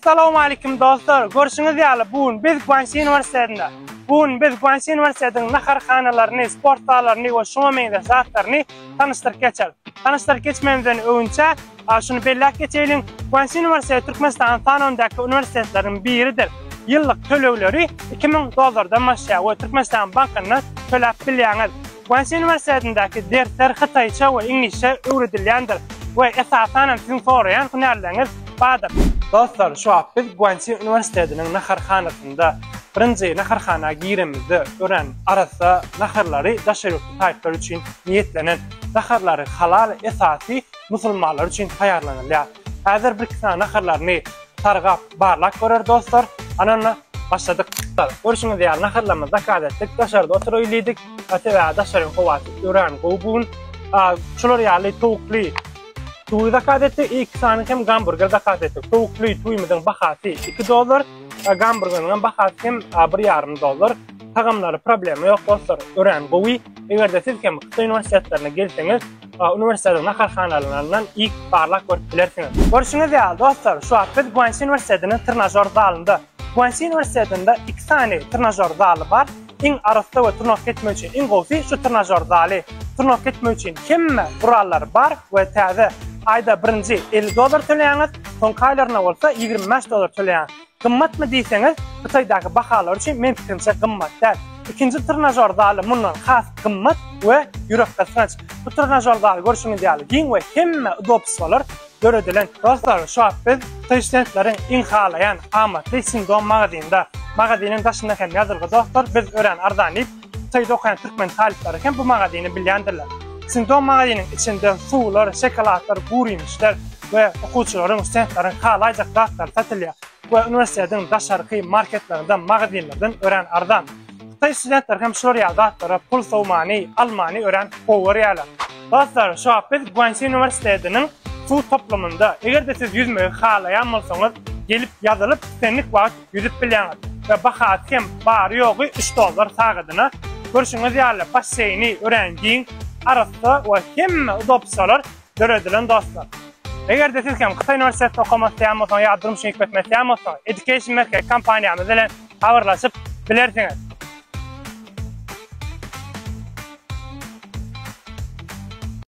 Salowmalikim dostlar, görşüňiz ýaly bu gün biz Guanxi uniwersitetinde. Bu gün biz Guanxi uniwersitetiniň naharhanalaryny, sport zallaryny we şuňa meňzeş zatlaryny tanyşdyryp geçeris. Tanyşdyryp geçmemizden öňünçä şuny belläp geçeýliň, Guanxi uniwersiteti Türkmenistanyň sanawyndaky uniwersitetleriň biridir. Ýyllyk tölegleri iki müň dollardan başlaýar we Türkmenistanyň bankyndan töläp bilýäňiz. Guangxi uniwersitetindäki dersler hytaýça we iňlisçe öwredilýändir we esasan hem siziň soraýan hünärleriňiz bardyr. Dostlar şu wagt biz Guangxi uniwersitetiniň naharhanasynda, birinji naharhana giremizde örän arassa naharlary daşary ýurtly talyplar üçin niýetlenen naharlary halal esasy musulmanlar üçin taýýarlanylýar. Häzir bir iki sany naharlaryny sargap barlap görer dostlar. Anana başladyk. Görşüňiz ýaly naharlarymyzy zakaz etdik. Daşarda oturaýyl diýdik. Sebäbi daşaryň howasy örän gowy bu gün. Şular ýaly towukly Tuwy zakaz etdik. Iki sany hem gamburger zakaz etdik. Towukly tuwymyzyň bahasy 2 dollar. Gamburgeriň hem bahasy hem 1,5 dollar. Tagamlary problema ýok dostlar. Örän gowy. Eger-de siz hem Hytaý uniwersitetlerine gelseňiz, Uniwersitetiň naharhana alnandan ilk barlag görüp bilersiňiz. Görşüňiz ýaly, dostlar, şu wagt biz Guansi uniwersitetiniň trenažýor zalynda. Guansi uniwersitetinde iki sany trenažýor zaly bar. Iň arassa we trenowatka etmek üçin iň gowusy şu trenažýor zaly. Trenowatka etmek üçin hemme gurallary bar we täze. Aýda birinji elli dollar töleýäňiz, soňky aýlaryna bolsa ýigrimi bäş dollar töleýäňiz. Gymmatmy diýseňiz, Hytaýdaky bahalar üçin meň pikirimçe gymmat däl. Ikinji trnažor zaly mundan has gymmat we ýürekgysgynç. Bu trnažor zaly görşüňiz ýaly giň we hemmä udobstwolar döredilen. Dostlar, şu wagt biz taýşkentleriň iň halaýan amatly Sindom magazynda. Magaziniň daşynda hem ýazylgy Dostlar, biz örän arzan diýip. Saýt okaýan türkmen talyplary hem bu magazyny bilýändirler. Çünki o magazynyň içinde suwlar, şokoladlar, gurymişler we okuwçylaryň, studentlaryň halaýjak zatlary satylýar we uniwersitetiň daşarky marketlerden, magazynlardan örän arzan. Hytaý studentleri hem şular ýaly zatlara pul sowmany, almany örän gowy görýärler. Dostlar, şu wagt biz Guansi uniwersitetiniň suw toplumynda. Eger-de siz ýüzmegi halaýan bolsaňyz, gelip ýazylyp, islendik wagt ýüzüp bilýäňiz we bahasy hem bary-ýogy üç dollar sagadyna. Görşüňiz ýaly, basseýni örän giň, arassa we hemme udobstwolar döredilen dostlar. Eger-de siz hem Hytaý uniwersitetinde okamak isleýän bolsaňyz ýa-da durmuş üçin gitmek isleýän bolsaňyz, Education Merkez kompaniýamyz bilen habarlaşyp bilersiňiz.